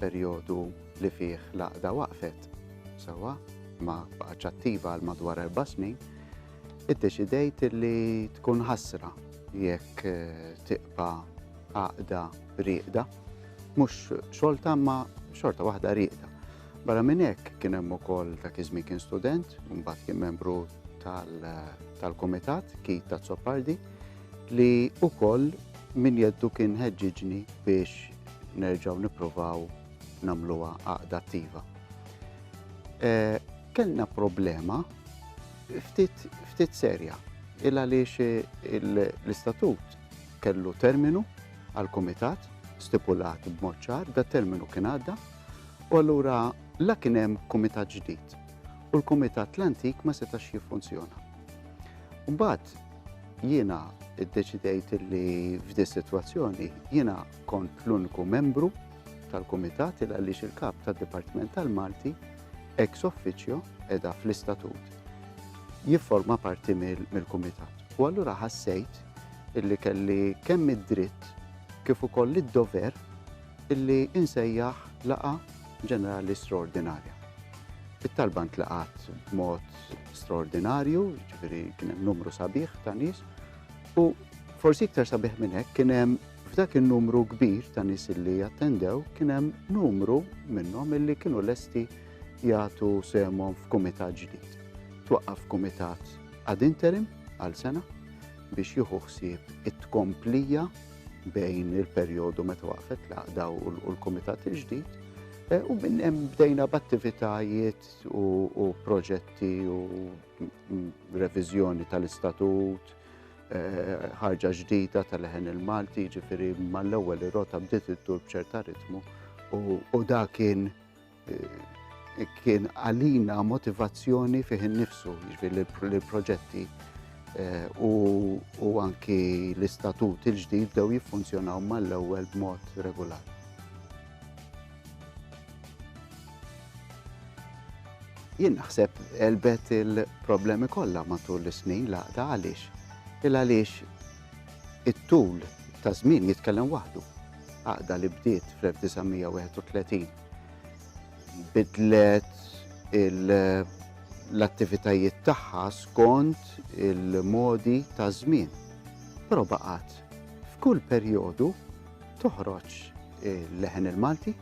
perjodu li fih l-għaqda waqfet sewwa ma baqgħetx attiva għal madwar erba' snin, iddeċidejt li tkun ħasra jekk eh, tiqba għaqda rieqda, mhux xolta ma xorta waħda rieqda. Barra minn hekk kien hemm ukoll dak iż-żmien kien student, mbagħad kien membru tal-Kumitat Kit ta' Zopardi li ukoll min jeddu kien ħeġġiġni biex nerġgħu nippruvaw nagħmluha għaqda attiva. Eh, kellna problema ftit serja il għaliex l-istatut kellu terminu għal komitat stipulat b'mod ċar, da terminu kien għadda, u allura la kien hemm komitat ġdid u l-komitat l-antik ma setax jiffunzjona. Mbagħad jiena iddeċidejt li f'di sitwazzjoni jiena kont l-uniku membru tal-Kumitat il għaliex il-kap tad-Dipartiment tal-Malti ex officio edha fl-istatut jifforma parti mill-Kumitat. U allura ħassejt illi kelli kemm id-dritt kif ukoll id-dover illi insejjaħ laqa ġenerali straordinarja. It-talba ntlaqat b'mod straordinarju, ġifieri kien hemm numru sabiħ ta' nies u forsi iktar sabiħ minn hekk kien hemm f'dak in-numru kbir ta' nies li attendew kien hemm numru minnhom illi kienu lesti jagħtu semhom f'kumitat ġdid. Twaqqaf kumitat ad interim għal sena biex jieħu ħsieb it-tkomplija bejn il-perjodu meta waqfet l-għaqda u l-kumitat il-ġdid. Eh, u minn hemm bdejna b'attivitajiet u proġetti u reviżjoni tal-istatut, eh, ħarġa ġdida tal-ħen il-Malti, ġifiri mal-ewwel ir-rota bdiet iddur b'ċerta ritmu u da kien eh, kien għalina motivazzjoni fih innifsu, ġifiri l-proġetti eh, u anki l-istatut il-ġdid dew jiffunzjonaw mal-ewwel b'mod regolari. Jien naħseb għelbet il-problemi kollha matul is-snin l-għaqda għaliex? Il għaliex it-tul ta' żmien jitkellem waħdu. Għaqda li bdiet fl-1931 bidlet l-attivitajiet tagħha skont il-modi ta' żmien. Però baqgħet f'kull perjodu toħroġ il-leħen il-Malti.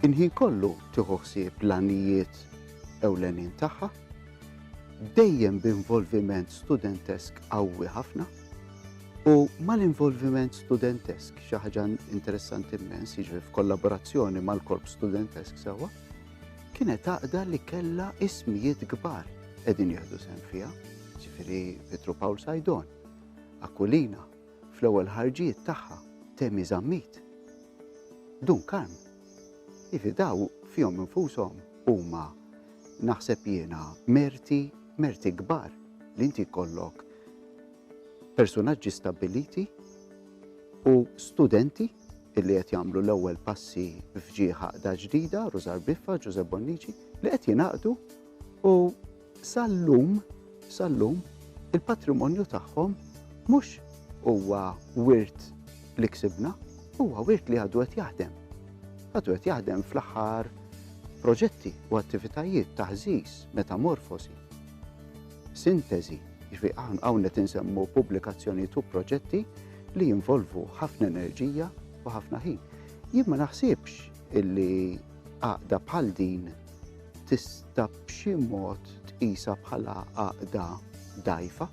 Inħin kollu tieħu ħsieb l-għanijiet ewlenin tagħha, dejjem b'involviment studentesk qawwi ħafna u mal-involviment studentesk xi ħaġa interessanti immens, jiġri f'kollaborazzjoni mal-korp studentesk sewwa, kienet għaqda li kellha ismijiet kbar qegħdin jieħdu sehem fiha, ġifieri Petru Paul Sajdon, Akulina, Fl-ewwel ħarġiet tagħha Temi Zammit, Dun Karm, ivi daw fihom infushom huma naħseb jiena merti, merti kbar li inti jkollok persunaġġi stabbiliti u studenti illi qed jagħmlu l-ewwel passi f'ġieħ għaqda ġdida, Rużar Biffa, Ġużepp Bonnici, li qed jingħaqdu u Sal-lum, sal-lum, il-patrimonju tagħhom mhux huwa wirt li ksibna, huwa wirt li għadu qed jaħdem. Għadu qed jaħdem fl-aħħar proġetti u attivitajiet ta' ħżiż, metamorfosi, sintesi, ġvi hawn qed insemmu pubblikazzjonijiet u proġetti li jinvolvu ħafna enerġija u ħafna ħin. Jien ma naħsibx illi għaqda bħal din tista' b'xi mod tqisha bħala għaqda dgħajfa.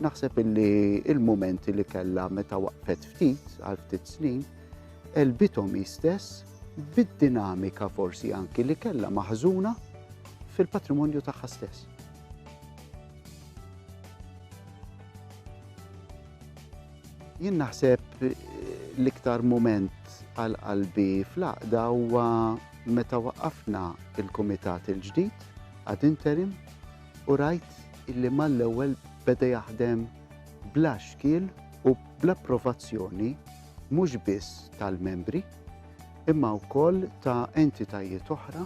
Naħseb illi il-mumenti li kellha meta waqfet ftit għal ftit snin elbithom istess bid-dinamika forsi anki li kellha maħżuna fil-patrimonju tagħha stess. Jien naħseb eh, l-iktar moment għal qalbi fl-aqda huwa Meta waqqafna l-kumitat il-ġdid ad interim u rajt illi mal-ewwel beda jaħdem bla xkiel u bl-approvazzjoni mhux biss tal-membri imma wkoll ta' entitajiet oħra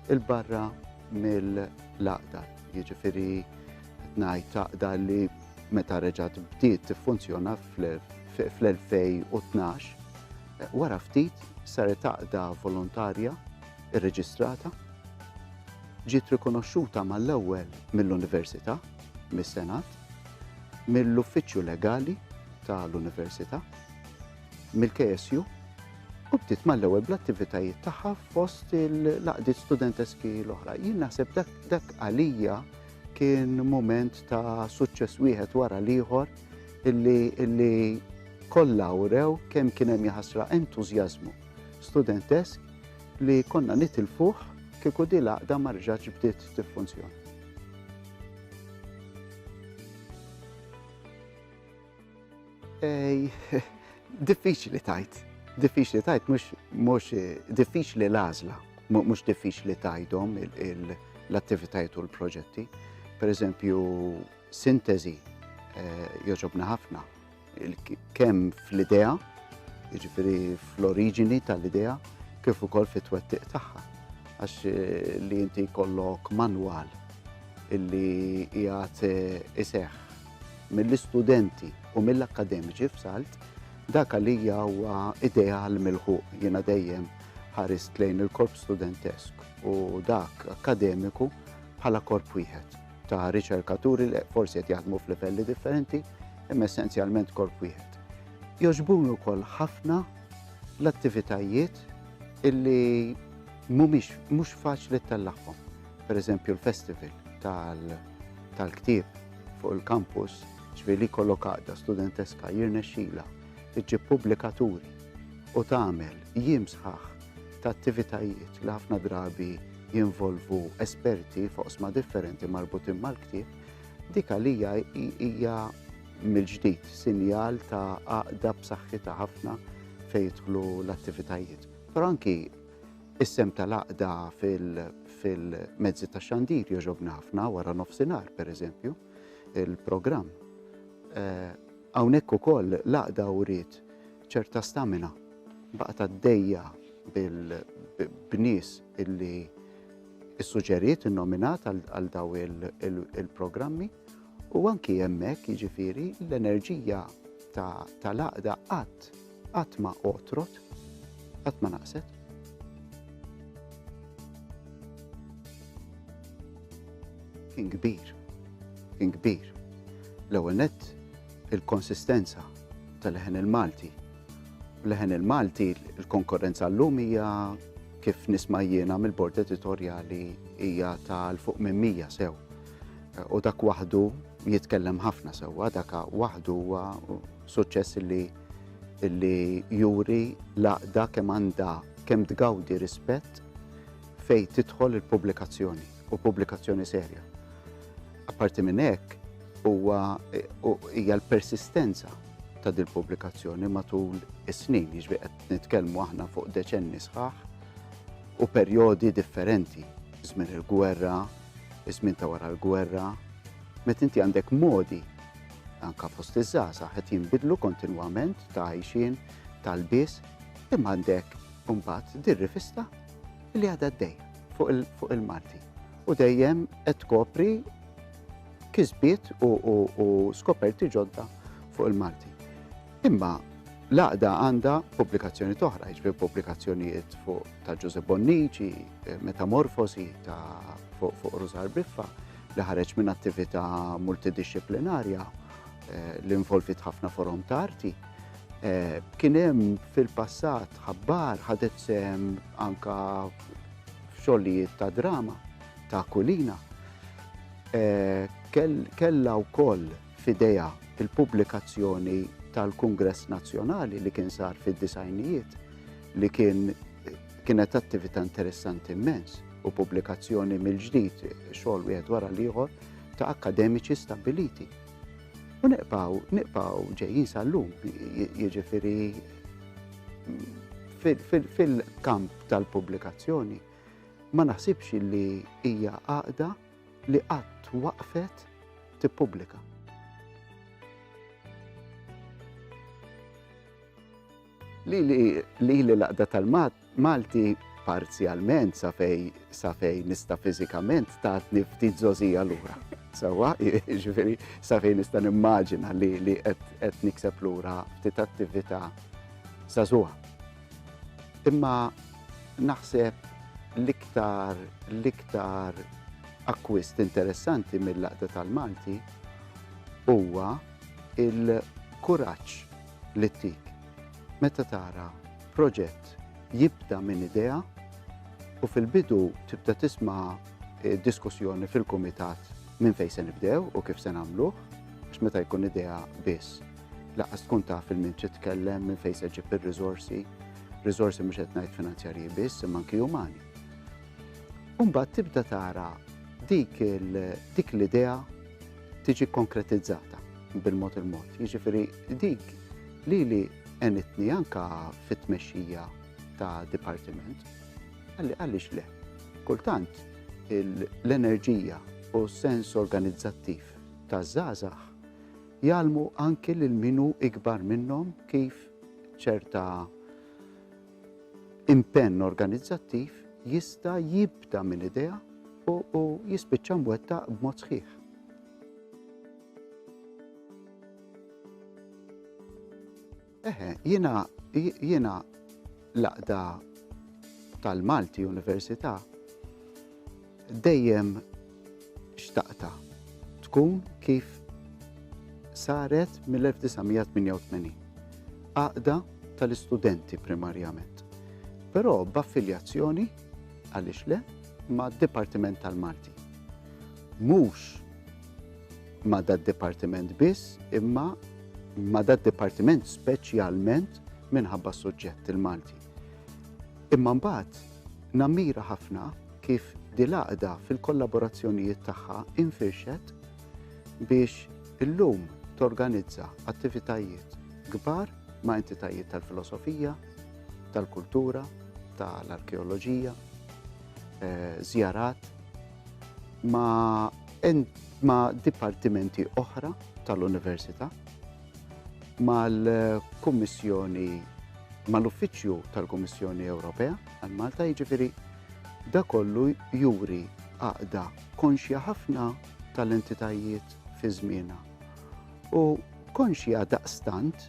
'l barra mill-Għaqda, jiġifieri qed ngħid Għaqda li meta reġgħet bdiet tiffunzjona fl-2012, Wara ftit saret għaqda volontarja rreġistrata. Ġiet rikonoxxuta mal-ewwel mill-Università, mis-Senat, mill-Uffiċċju Legali tal-Università, mill-KSU u bdiet mal-ewwel bl-attivitajiet tagħha fost il-laqdiet studenteski l-oħra. Jien naħseb dak għalija kien mument ta' suċċess wieħed wara l-ieħor illi, illi kollha wrew kemm kien hemm jaħasra entużjażmu studentesk li konna nitilfuh kieku di l-għaqda ma rġatx bdiet tiffunzjona. Diffiċli tajt, diffiċli tajt, mhux diffiċli l-għażla, mhux diffiċli tajthom l-attivitajiet u l-proġetti. Per eżempju, Sintesi jogħġobna ħafna kemm fl-idea, jiġifieri fl-oriġini tal-idea, kif ukoll fit-twettiq tagħha. Għax li inti jkollok manwal illi jgħat iseħħ mill-istudenti u mill-akkademiċi f'salt, dak għalija huwa ideal mill-ħuq jiena dejjem ħarist lejn il-korp studentesk u dak akademiku bħala korp wieħed. ta' riċerkaturi li forsi qed jaħdmu f'livelli differenti, imma essenzjalment korp wieħed. Joġbuni wkoll ħafna l-attivitajiet illi mhumiex mhux faċli tellagħhom. Per eżempju l-festival tal-ktieb fuq il-kampus ġvili kollokata studenteska jirnexxila iġġib pubblikaturi u tagħmel jiem sħaħ ta' attivitajiet li ħafna drabi jinvolvu esperti f'oqsma differenti marbutin mal-ktieb, dik għalija hija mill-ġdid sinjal ta' għaqda b'saħħitha ħafna fejn jidħlu l-attivitajiet. Però anki is-sem tal-għaqda fil-mezzi ta' xandir joġobna ħafna wara nofsinhar, pereżempju, il-programm. Eh, hawnhekk ukoll l-għaqda uriet ċerta stamina baqgħet għaddejja bil-bnies illi issuġġeriet innominat għal daw il-programmi u anki hemmhekk jiġifieri l-enerġija tal-għaqda qatt qatt ma otrot, qatt ma naqset. Kien kbir, kien kbir. L-ewwel nett il-konsistenza tal-leħen il-Malti Leħen il-Malti, il-konkurrenza llum hija kif nisma' jiena mill-bord editorjali hija tal fuq minn mija sew. U dak waħdu jitkellem ħafna sewwa, dak waħdu huwa suċċess li li juri laqda kemm għandha kemm tgawdi rispett fej tidħol il-pubblikazzjoni. u pubblikazzjoni serja. Apparti minn hekk, huwa hija l-persistenza ta' dil pubblikazzjoni matul is-snin, jiġri qed nitkellmu aħna fuq deċenni sħaħ u perjodi differenti, żmien il-gwerra, żmien ta' wara l-gwerra, met inti għandek modi anka fost iż-żaza qed jinbidlu kontinwament ta' għajxin tal-bis imma għandek mbagħad dir-rivista li għadha d-dejja. fuq il-Malti. U dejjem qed tkopri kisbiet u skoperti ġodda fuq il-Malti. Imma l-għaqda għandha pubblikazzjoni toħra, jiġri pubblikazzjonijiet fuq ta' Ġużep Bonnici, Metamorfosi ta' fuq Ruzar Biffa, li ħareġ minn attività multidisciplinarja eh, li involvit ħafna forom ta' arti. Eh, kien hemm fil-passat ħabbar ħadet sem anka f'xogħlijiet ta' drama, ta' kulina, eh, kellha wkoll f'idejha il-pubblikazzjoni tal-Kungress Nazzjonali li kien sar fid-disajnijiet li kien kienet attività interessanti immens u pubblikazzjoni mill-ġdid xogħol wieħed wara l-ieħor ta' akademiċi stabiliti. U niqpaw, niqpaw ġejjin sal-lum, jiġifieri fil-kamp tal-pubblikazzjoni, ma naħsibx li hija għaqda li qatt waqfet tippubblika. Li li l-għaqda tal-Malti parzjalment sa fej sa fej nista fizikament tatni ftit zozija lura. Sawa, ġifiri, sa fej nista nimmaġina li li qed nikseb lura ftit attività sa zuha. Imma naħseb l-iktar l-iktar akkwist interessanti mill-Għaqda tal-Malti huwa l-kuraġġ li ttik meta tara proġett jibda minn idea u fil-bidu tibda tisma' diskussjoni fil-kumitat minn fejn se nibdew u kif se nagħmluh għax meta jkun idea biss Laqqas tkun taf il min titkellem, minn fejn se ġib ir-riżorsi, riżorsi mhux qed ngħid finanzjarji biss, imma anki umani. Umbagħad tibda tara dik dik l-idea tiġi konkretizzata bil-mod il-mod. Jiġifieri dik li li enitni anka fit-tmexxija ta' dipartiment, għalli għalix le. Kultant, l-enerġija u sens organizzattiv ta' zazax Jgħallmu anki lil min hu ikbar minnhom kif ċerta impenn organizzattiv jista' jibda minn idea u jispiċċa mwettaq b'mod sħiħ. Eħe, jiena jiena l-aqda tal-Malti Università dejjem xtaqta tkun kif saret mill-1988. Aqda tal-istudenti primarjament. Però b'affiljazzjoni għaliex le ma' Dipartiment tal-Malti. Mhux ma' dad-dipartiment biss, imma ma' dad-dipartiment speċjalment minħabba s-suġġett il-Malti. Imma mbagħad nammira ħafna kif dil-għaqda fil-kollaborazzjonijiet tagħha infirxet biex illum torganizza attivitajiet kbar ma' entitajiet tal-filosofija, tal-kultura, tal-arkeoloġija, żjarat, eh, ma' dipartimenti oħra tal-Università, mal-Kummissjoni, mal-Uffiċċju tal-Kummissjoni Ewropea għal Malta, jiġifieri dak kollu juri għaqda konxja ħafna tal-entitajiet fi żmienha u konxja daqstant